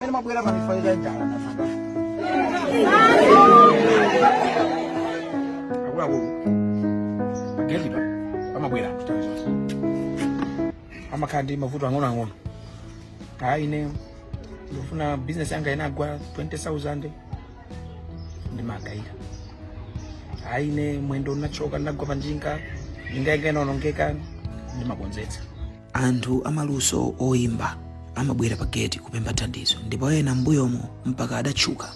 Amene amabwera kwa zifukwa za njala na mada. Akuluakulu agedeba. Amabwera. Amakhala ndi mavuto ang'onoang'ono. Kaya ine ndufuna business yanga inagwa 20,000. Ndimagaida. Kaya ine mwendo unachoka ndinagwa panjinga. Njinga yanga inaonongeka. Ndimakonzetsa. anthu amaluso oyimba amabwera pa gate kupempha thandizo ndipo ena m'mbuyomo mpaka adatchuka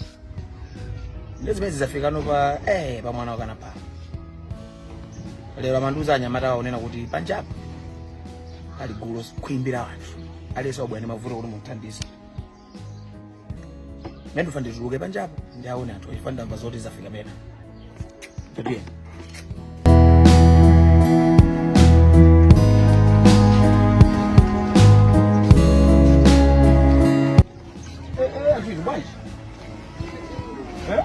Ndiye zimene zidzafikanso pa eh pa Mwanawakanapa. Lero amandiuza anyamatawo amanena kuti panjapa pali gulu khwimbi la anthu. Aliyense wabwera ndi mavuto kuti mumuthandize. Ndiye ndufuna ndituluke panjapo ndiwaone anthu chifukwa ndamva zoti zafika pena. Tatiye. Eh, eh, Aziz, bwanji? Eh?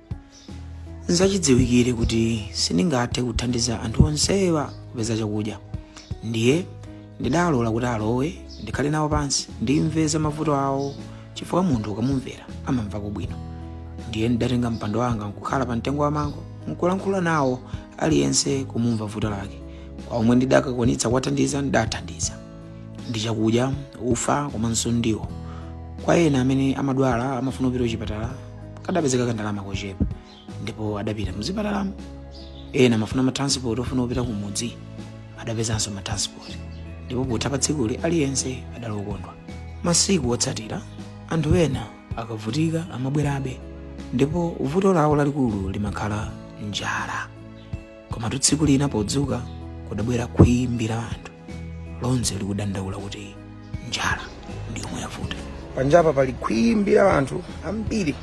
nzachidziwikire kuti sindingathe kuthandiza anthu onsewa kupeza chakudya ndiye ndidalola kuti alowe ndikhale nawo pansi ndimve za mavuto awo chifukwa munthu ukamumvera amamvako bwino ndiye ndidatenga mpando wanga nkukhala pa mtengo wa mango nkulankhula nawo aliyense kumumva vuto lake kwa omwe ndikadakwanitsa kuwathandiza ndidathandiza ndi chakudya ufa komanso ndiwo kwa ena amene amadwala amafuna kupita kuchipatala kadapezeka kandalama kochepa ndipo adapita mzipatalamo ena amafuna matransport ofuna kupita kumudzi adapezanso matransport ndipo potha pa tsikuli aliyense adali okondwa masiku otsatira anthu ena akavutika amabwerabe ndipo vuto lawo lalikulu limakhala njala komatu tsiku lina podzuka kudabwera khwimbi la anthu lonse likudandaula kuti njala ndi yomwe yavuta panjapa pali khwimbi la anthu ambiri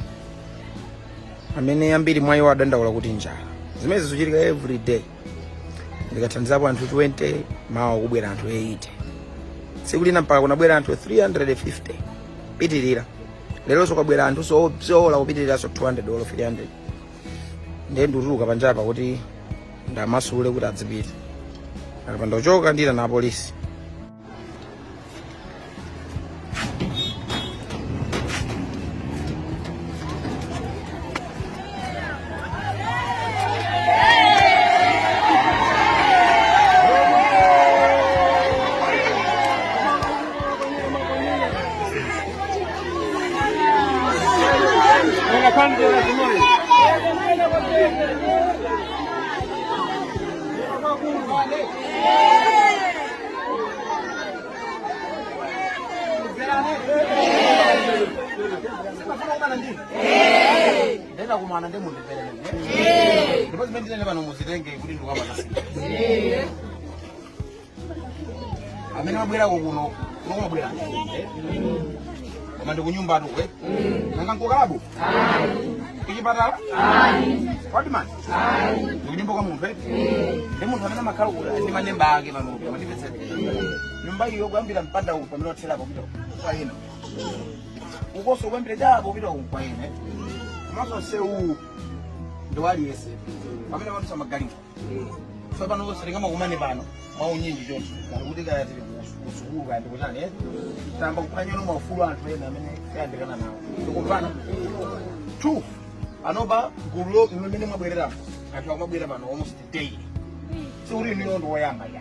amene ambiri mwa iwo adandaula kuti njala zimene zikuchitika every day ndikathandizapo anthu 20 mawa kubwera anthu 80 tsiku lina mpaka kunabwera anthu 350 pitirira leronso kwabwera anthunso obzola kupitiriranso 200 olo 300 ndiye ndikutuluka panjapa kuti ndiwamasule kuti adzipita apa ndikachoka ndiitana apolisi ndenda kumana ndi munthu mpherere ndipo zimene ndinene pano muzitenge kuti ndikukamanani amene abwerako kuno mukumabwera koma ndikunyumbatu kuno nanga nkukalabu kuchipatala kwadimani ndikunyumba kwa munthu eti ndi munthu amene amakhala kuda ndi maneba ake panopo amandipezera nyumba iyo kuyambira mpanda uwu pamene watherapo kupita kwa ena ukoso kuyambira chapo kupita uwu kwa ena komanso nsewu ndi waliyese pamene amadutsa magalimo tsopano sitingamakumane pano mwaunyinji choncho ngati kuti kaya tili kusukulu kaya ndikuchani eh? tayamba kuphwanyano maufulu a anthu ena amene ayandikana nawo ndikupanga too panopa gulu lo- limene mwabwereramo anthu akumabwera pano almost daily sikuti inu ndinu oyamba ya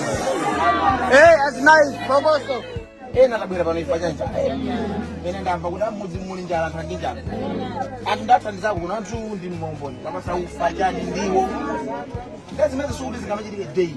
Hey, that's nice, Boboso. Hey, natabwera pano chifukwa cha njala. Ine ndamva kuti m'mudzi muli njala tili ndi njala. Anthu ndathandizako kuno anthu ndi mboni. Kuwapatsa ufa chani ndiwo. Ndazimene sikuti zingamachitike ayi.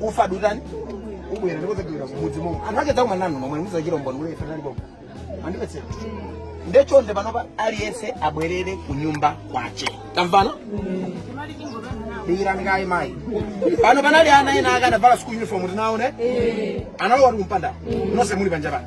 ufa adutani ubwera ndikudzagawira mudzi momwe anthu ache dzakumana nanu nomwe muzachitira umboni kuti ife talipo andipezera ndechonde panopa aliyense abwerere ku nyumba kwache tamvana dikirani kaye mayi pano panali ana ena atavala school uniform tinaone analowa kuti kumpanda nonse muli panja pano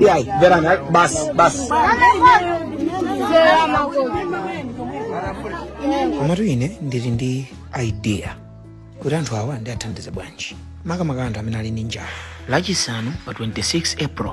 Yai, mverani, ai, basi, basi. komatu ine ndili ndi idea kuti anthu awa ndiathandize bwanji makamaka anthu amene ali ndi njala la Chisanu pa 26 april